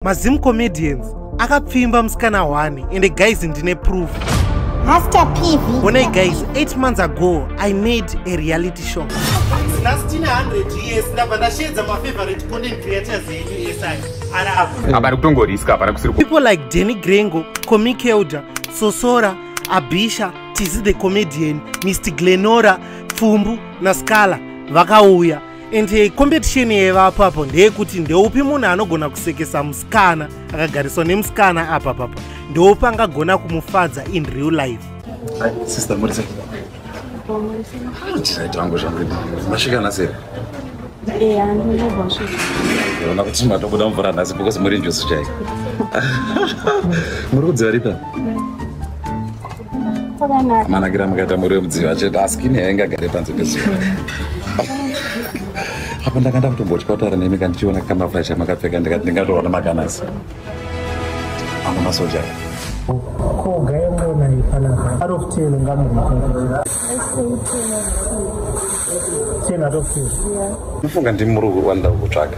mazim comedians akapfimba musikana wani ende guys ndine proof Master PV. Bonai guys, 8 months ago I made a reality show. Nastina 100 years ndabva ndashedza my favorite content creators edu SI. Ara apa. Apa kutongoriska apa kusiri. People like Danny Grengo, Komi Kelda, Sosora, Abisha, Tizi the Comedian, Mr Glenora, Pfumbu na Scala vakauya. and eh, competition yevapo apo ndeyekuti ndeupi munhu anogona kusekesa musikana akagariswa nemusikana apa papa ndeupi angagona kumufadza in real life sister murise tiraita vangu zvangu masvika naseri eh, ona kuti matobuda mvura nhasi because muri njusu chaiko muri kudziva ripa amanakira makaita muri wemudziva chete asi kini yainge agare panze pezuva apa ndanga ndakutombotya kutaura nemi kandichiona kamafurashi amakapfeka ndikati ndingatoona makanasi ana masoja kogaemona ipanaa out of ten ngamurikoo ten out of ten ufunga ndimuri kuwandakutsvaga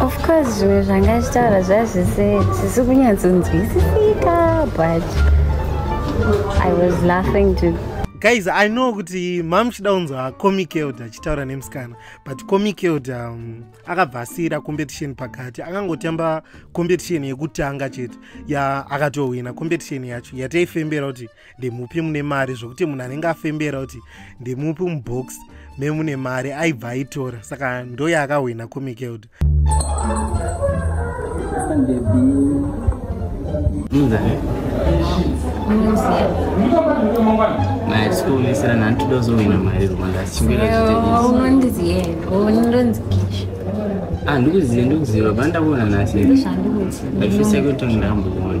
Of course zvimwe zvanga achitaura zvazvisi kunyatsonzwisisika but I was laughing to guys I know kuti mamuchida unzwa comic elder achitaura nemusikana but comic elder um, akabva asiira competition pakati akangotamba competition yekutanga chete ya akatohwina competition yacho yataifembera kuti ndemupi mune mari zvokuti munhu anenge afembera kuti ndemupi mubox memune mari aibva aitora saka ndoyaakahwina comikelda maatikuonesera nhani todozohwina mari rwanda achichingaaandikuziva ndikuziva banda kuona nhasi aifisa kuti ndamboona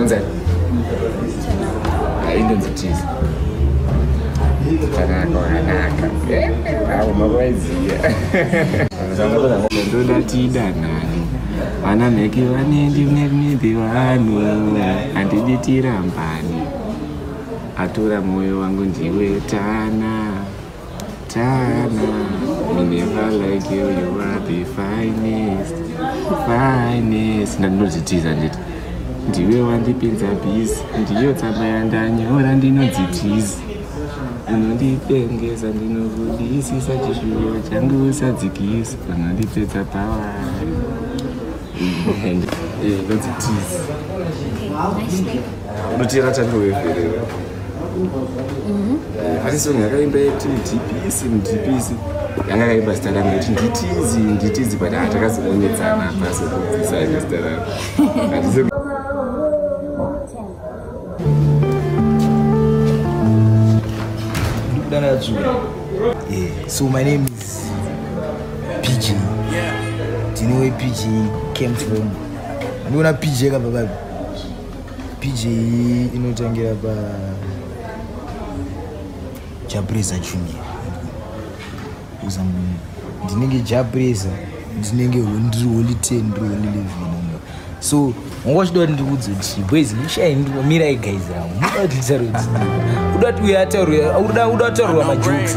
Unzai? Ah, Indonzi cheese. Tanaka, wanaka. Awo mavaiziya. Ndoda tidanane. Vana mheki vanendi mnedhi vanhu handidi tirambani. Atora moyo wangu ndiwe tana. Tana, we never like you, you are the finest, finest. Ndandinodzitiza nditi. Ndiwe wandipinza busy, ndiyo tsamba yandanyora ndinodzitiza. Unondipengeza ndinokudisisa chishuwo changu usadzikisa, unondipedza power. Ndodzitiza. Okay, nice name. unoteera tamiro wevherera mhm. eh, ari song yakaimba yekuti ndipisi ndipisi yanga akaimba zita rangu kuti nditizi nditizi but hatakazoonetsana ah, pasi kubvisa ine zita rangu so my name is pg do you know where pg came from ndiona pg kabva kapi pj inotangira pa japresa chuni uza ndinenge japresa ndinenge ndiri holy ten ndiri holy levin so wanga uchida kuti ndikuudze kuti boys ndishai mirai guys ravo muda kuti nditaure kuti uda kuti uya ataurwa uda kutaurwa majokes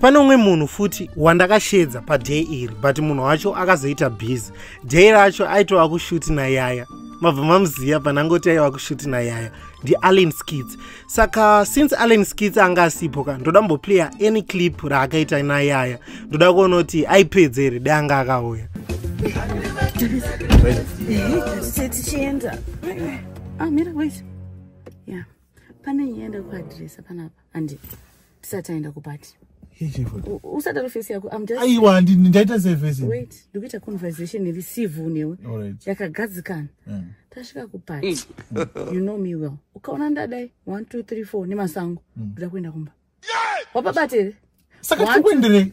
pane umwe munhu futi wandakashedza paday iri but munhu wacho akazoita busy day racho aitova kushuti nayaya mabva mamuziva panangoti aiva kushuti nayaya ndiallen skits saka since allen skits anga asipo ka ndoda mboplaya any clip raakaita nayaya ndoda kuona kuti aipedze here de anga akauya ah, pane yenda kuadresa panapa andii tisati aenda kupati usada rufesi yako aiwa handini ndaita sevesi wait ndikuita conversation iri civil newe yakagadzikana mm. tasvika kupati mm. you know me well ukaona ndadai one two three four nemasango mm. ndoda kuenda kumba wapabati here saka tikuenderei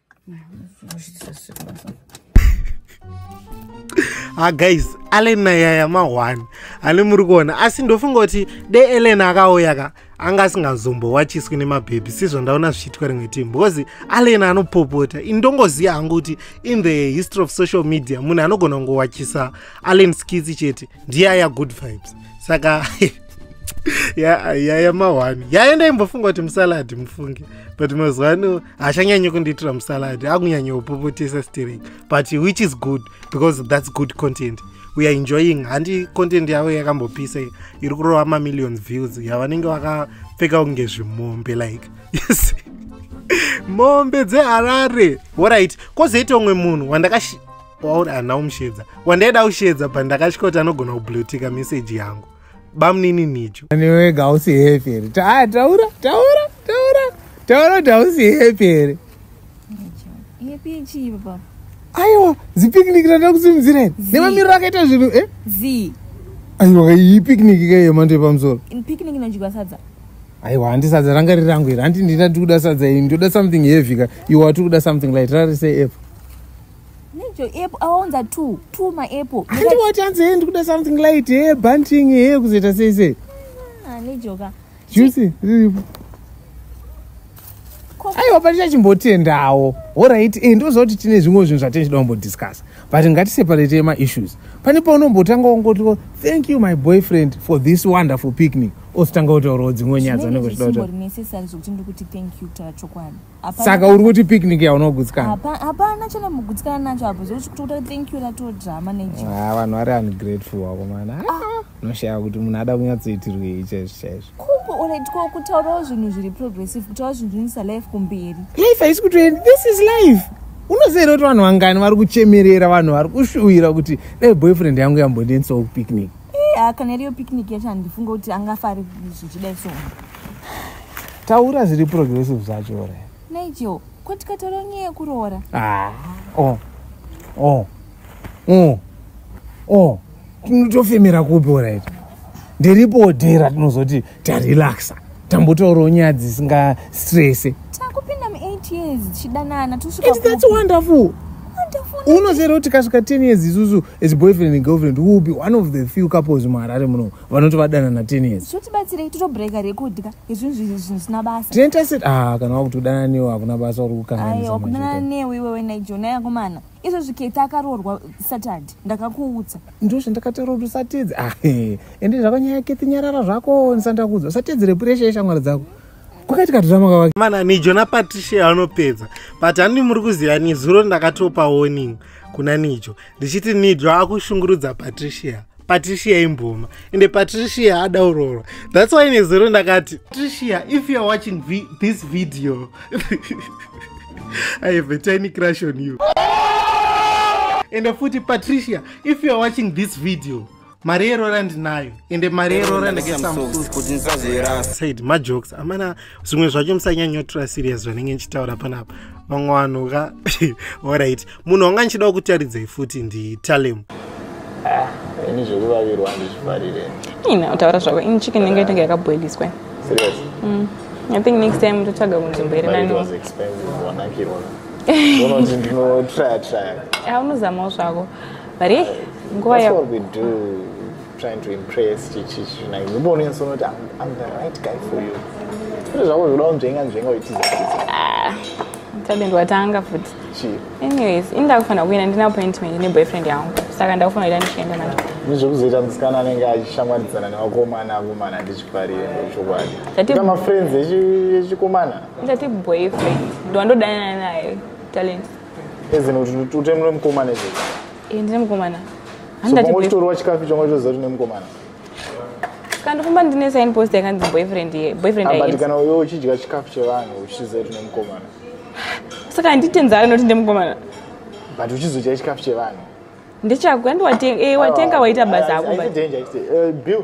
ha ah, guys allen nayaya mahwani hane muri kuona asi ndofunga kuti de ellen akauya ka anga asingazombowachiswi nemabhebhi sizvo ndaona zvichiitwa rimwe timu because allen anopopota indongoziva hangu kuti in the history of social media munhu anogona kungowachisa allen skitsi chete ndiye aya good vibes saka yaya mahwani yaya ndaimbofunga kuti musaladi mufunge but mazuva ano haachanyanyi kundiitira musalad akunyanya kupopotesa stering but which is good because that's good content we are enjoying handi content yavo yakambopisa iri kurova mamillion views yavanenge vakapfeka kunge zvimombe like yes mombe dzeharare orit kozoita umwe munhu wandakash wauri hana umushedza wandaida kushedza but ndakashikoti anogona kublutika meseji yangu bamnini nijo aniwega hausi hepi here ah, taura taura taura taura kuti hausi hepi here aiwa zipicnic randa kusimudzira here nemamiriro akaita zvinhu e eh? aiwa iyi picnic ka yemando yepamusoro picnic inodyiwa sadza aiwa handi sadza ranga riri rangu here handi ndina ndikuda sadza iyi ndoda something heavy ka iwa tikuda something light rarisei epa Nijo app awaunza two two ma app. Handi wati anzi hey ndikuda something light hey bunting hey kuzoita sei sei. Ah nijo ka. Juicy riripo. Aiwa pati chachimbotendawo. Alright eh ndozoti tine zvimwe zvinhu zvatinoda kumbodiscuss. But ngati separate ma issues. Pane paunombotanga wongoti thank you my boyfriend for this wonderful picnic. Ositanga kutaurawo dzimwe nyaya dzanenge zvidoda. Zvimwe necessary zvokuti ndikuti thank you tachokwadi. saka uri kuti picnic yaunogutsikana hapana chana mugutsikana nacho apo zvokutokuta thank you rato drama nejo ah, vanhu vari ungrateful wako mana ah. unoshaya kuti munhu ada kunyatsoitirwei chaizvo chaizvo kuoletwa kutaurawo zvinhu zviri progressive kutaura zvinhu zvinisa life kumberi life haisi kutoenda this is life unoziva kuti vanhu vangani vari kuchemerera vanhu vari kushuvira kuti dai boyfriend yangu yambondiendisawo kupicnic Iya, kana iriyo picnic yacho handifunge kuti angafari zvichidai so. Taura zviri progressive zvacho ore. Nigel, ko tikataura nyaya yekuroora? Ah. Oh. Oh. Oh. Oh. Tinotofemera kupi orit? Ndiripo dera tinozoti tarelaxa. Tambotaurawo nyaya dzisinga stress. Takupinda mu 8 years chidanana tusvika. It's that's wonderful. Wonderful. Unozero tikasvika 10 years isusu as boyfriend and girlfriend will be one of the few couples muharare muno vanoti vadanana ten years zvotibatsirei totobreaka rekudya izvinhu zvinhu zvisina basa tinoita se ah kana wakuti kudana newe hakuna basa uri kukanganaisakudanana newe iwewe naijona yakomana izvo zviketa akaroorwa saturday ndakakuudza ndo zvandakataura kuti usatedze ah eh, ende zvakanyaya kethi nyarara zvako ndisandakuudza usatedze repuresha yeshamwari dzako kwakaitika tiramaka wake mana nijona patricia anopedza but handi muri kuziva nezuro ndakatopa warning kuna nijo ndichiti nijo akushungurudza patricia patricia imboma ende patricia adaurorwa thats why nezuro ndakati patricia if youare watching vi this video i have a tiny crush on you ende futi patricia if youare watching this video mari yeroora ndinayo ende mari yeroora ndakasaid majokes amana zvimwe zvacho musanyanyotora serious zvanenge ndichitaura panapa vamwe vanhu ka orit munhu wanga ndichidawo kutaridzai futi nditalem ah, ini zvekuvavirwa ndizvifarire ina utaura zvako ini chicken nenge itenge yakaboiliswa mm. i think next time ndotsvaga kunzvimbo iri nani unozamawo zvako but eh nguva ya what we do trying to impress chichi china ngibone nso not I'm, I'm the right guy for you kuti zvako zvoda kunzvenga nzvenga uitiza ah tade ndiwatanga futi chii anyways ini ndakufanira kuenda ndine appointment ne boyfriend yangu saka ndakufanira kuita ndichienda naye nezvekuzoita musikana anenge achishamwaridzana nevakomana akomana ndichifarire ndochokwadi ita mafriends echikomana ndati boyfriend ndiwandodanana naye talent ezino kuti utemno nemukomana izvo eh, ndine mukomana handitorwa chikafu icho ngoitoziva kuti nemukomana kandifamba ndine sign post yakanzi boyfriend boyfriend but kana uyo uchidya chikafu chevanhu uchiziva kuti nemukomana saka handitenza anoti ndemukomana but uchizodya chikafu chevanhu ndechako andiwatenga eh, watenga waita basa ako eh, bill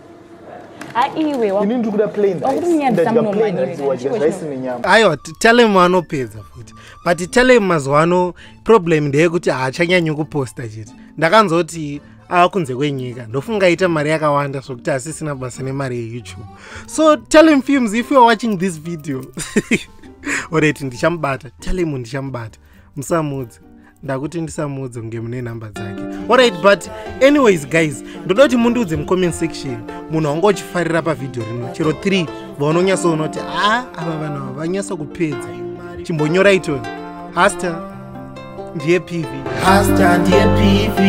aiwe wa- ini ndiri kuda plain rice. Wakutinyadzisa Ndadya muno plain manyika, rice, wadya chiko rice chino. nenyama aiwa t- telem anopedza futi but telem mazuva ano problem ndeyekuti haachanyanyi kuposta chete ndakanzoti ava kunze kwenyika ndofunga aita mari yakawanda zvokuti hasisina basa nemari yeyoutube so telem films if youare watching this video oreti ndichamubata telem ndichamubata musamuudze ndakuti ndisamuudze kunge mune nhamba dzake orit but anyways guys ndoda kuti mundiudze mucomment section munhu wanga uchifarira pavhidhiyo rino chero 3 vaunonyatsoona kuti a ava vanhu ava vanyatsa kupedza chimbonyora itoni hasta ndiye pv hasta ndiye pv